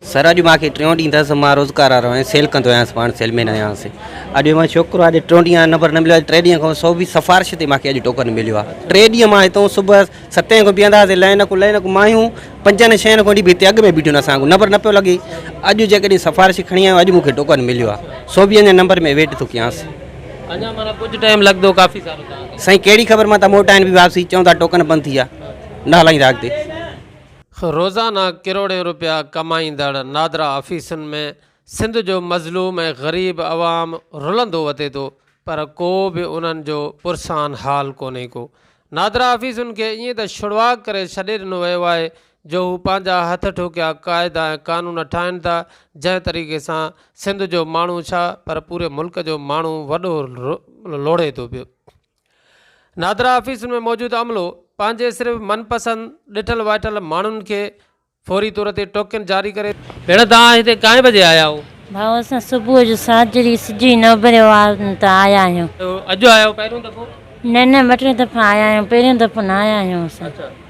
سر اڄ مان کي ٽيون ڏينهن اٿس مان روزگار وارو آهيان سيل ڪندو آهيان پاڻ سيل مين آهيان اڄ مان شوڪرو آهي ٽيون ڏينهن نمبر نه مليو آهي ٽي ڏينهن کان سو به سفارش تي مان کي اڄ ٽوڪن مليو آهي ٽي ڏينهن مان هتو صبح ستين کان بيهنداسي لائن کان لائن کان مايون پنجن ڇهن کان به هتي اڳ ۾ بيٺيون اسان کي نمبر نه پيو لڳي اڄ جيڪڏهن سفارش کڻي آيو اڄ مونکي ٽوڪن مليو آهي سو به اڃا نمبر ۾ ويٽ ٿو ڪيانس اڃا مانا ڪجهه ٽائيم لڳندو ڪافي سارو سائين ڪهڙي خبر مان ته موٽائن به واپسي چون ٿا ٽوڪن بند ٿي ويا نه هلائيندا اڳتي روزانه ڪروڙين روپيا ڪمائيندڙ نادرا آفيسن ۾ سنڌ جو مظلوم ۽ غريب عوام رلندو وتي ٿو پر ڪو به انهن جو پرسان حال ڪونهي ڪو. نادرا آفيسن کي ائين ته ڇڙواڳ ڪري ڇڏي ڏنو ويو آهي جو هو پنهنجا هٿ ٺوڪيا قاعدا ۽ قانون ٺاهين ٿا جنهن طريقي سان سنڌ جو ماڻهو ڇا پر پوري ملڪ جو ماڻهو وڏو لوڙهي ٿو پيو. نادرا آفيسن ۾ موجود عملو پنهنجي صرف من پسند ڏٺل وائٺل ماڻهن کي فوري طور تي ٽوڪن جاري ڪري ٿو. ڀيڻ توهان هتي ڪائين بجي آيا آهو؟ ڀائو اسان صبح جو ساجري سج ئي نه اڀريو آ ته آيا آهيون. اڄ آيا آهيو پهريون دفعو؟ نه نه ٻه ٽي دفعا آيا آهيون پهريون دفعو نه آيا آهيون اسان. اچا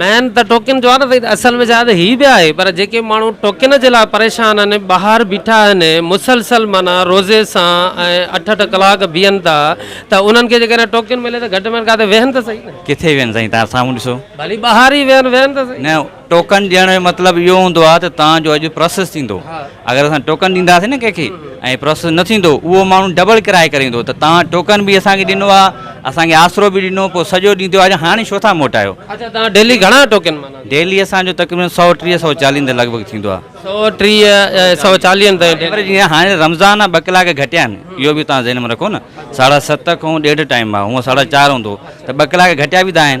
مين ته ٽوڪن جو آ نه سائين اصل ۾ شايد هي به آهي پر جيڪي ماڻهو ٽوڪن جي لاء پريشان آهن ٻاهر بيٺا آهن مسلسل معنيٰ روزي سان ۽ اٺ اٺ ڪلاڪ بيهن ٿا ته انهن کي جيڪڏهن ٽوڪن ملي ته گهٽ ۾ گهٽ ڪاٿي ويهن ته سهي نه. ڪٿي ويهن سائين تان سامهون ڏسو. ڀلي ٻاهر ئي ويهن ويهن ته سهي. نه ٽوڪن ڏيڻ جو مطلب اهو هوندو آ ته تان جو اڄ پراسيس ٿيندو. اگر اسان ٽوڪن ڏينداسين نه ڪنهن کي ۽ پروسيس نه ٿيندو اهو ماڻهو ڊبل ڪرايو ڪري ايندو ته توهان ٽوڪن به اسان کي ڏنو آهي اسان کي آسرو به ڏنو پوء سڄو ڏينهن ٿيو آهي هاڻي ڇو ٿا موٽايو. اچا توهان ڊيلي گهڻا ٽوڪن ماناتا. ڊيلي اسان جو تقريبن سؤ ٽيهه سؤ چاليهن تائين لڳ ڀڳ ٿيندو آهي. سؤ ٽيهه سؤ چاليهن تائين ايوريج ڏينهن هاڻي رمضان آهي ٻه ڪلاڪ گهٽيا آهن اهو به توهان ذهن ۾ رکو نه ساڍا ست کان ڏيڍ ٽائيم آهي هونء ساڍا چار هوندو ته ٻه ڪلاڪ گهٽيا به ته آهن.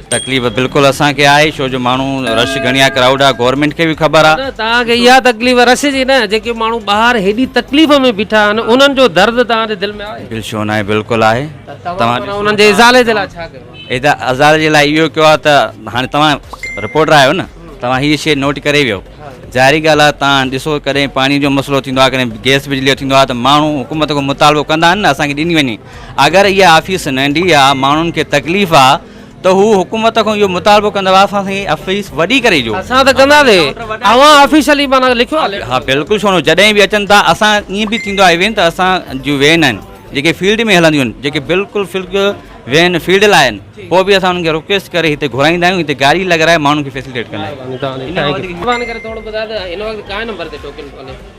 تڪليف بلڪل اسان کي آهي شو جو ماڻهو رش گهڻي آهي ڪرائوڊ آهي گورنمينٽ کي به خبر آهي نه توهان کي اها تڪليف رش جي نه جيڪي ماڻهو ٻاهر هيڏي تڪليف ۾ بيٺا آهن انهن جو درد توهان جي دل ۾ آهي بل شو ناهي بلڪل آهي توهان انهن جي ازالي جي لاء ڇا ڪيو ادا ازالي جي لاء اهو ڪيو آهي ته هاڻي توهان رپورٽر آهيو نه توهان هي شي نوٽ ڪري ويو ظاهري ڳالهه آهي توهان ڏسو ڪڏهن پاڻي جو مسئلو ٿيندو آهي ڪڏهن گيس بجلي جو ٿيندو آهي ته ماڻهو حڪومت کان مطالبو ڪندا آهن نه اسان کي ڏني وڃي اگر اها آفيس ننڍي آهي ماڻهن کي تڪليف آهي ته هو حڪومت کان اهو مطالبو ڪندا هئا اسان سان آفيس وڏي ڪري ڏيو. اسان ته ڪندا سي اوهان آفيشلي معنيٰ لکيو آهي. ها بلڪل ڇو نه جڏهن به اچن ٿا اسان ائين به ٿيندو آهي وين ته اسان جون وين آهن جيڪي فيلڊ ۾ هلنديون آهن جيڪي بلڪل فلڪ وين فيلڊ لاء آهن پوء به اسان انهن کي رڪويسٽ ڪري هتي گهرائيندا آهيون هتي گاڏي لڳرائي ماڻهن کي فيسلٽيٽ ڪندا آهيون مهرباني ڪري ٿورو ٻڌاء ته هن وقت ڪائي نمبر تي ٽوڪن ڪونهي.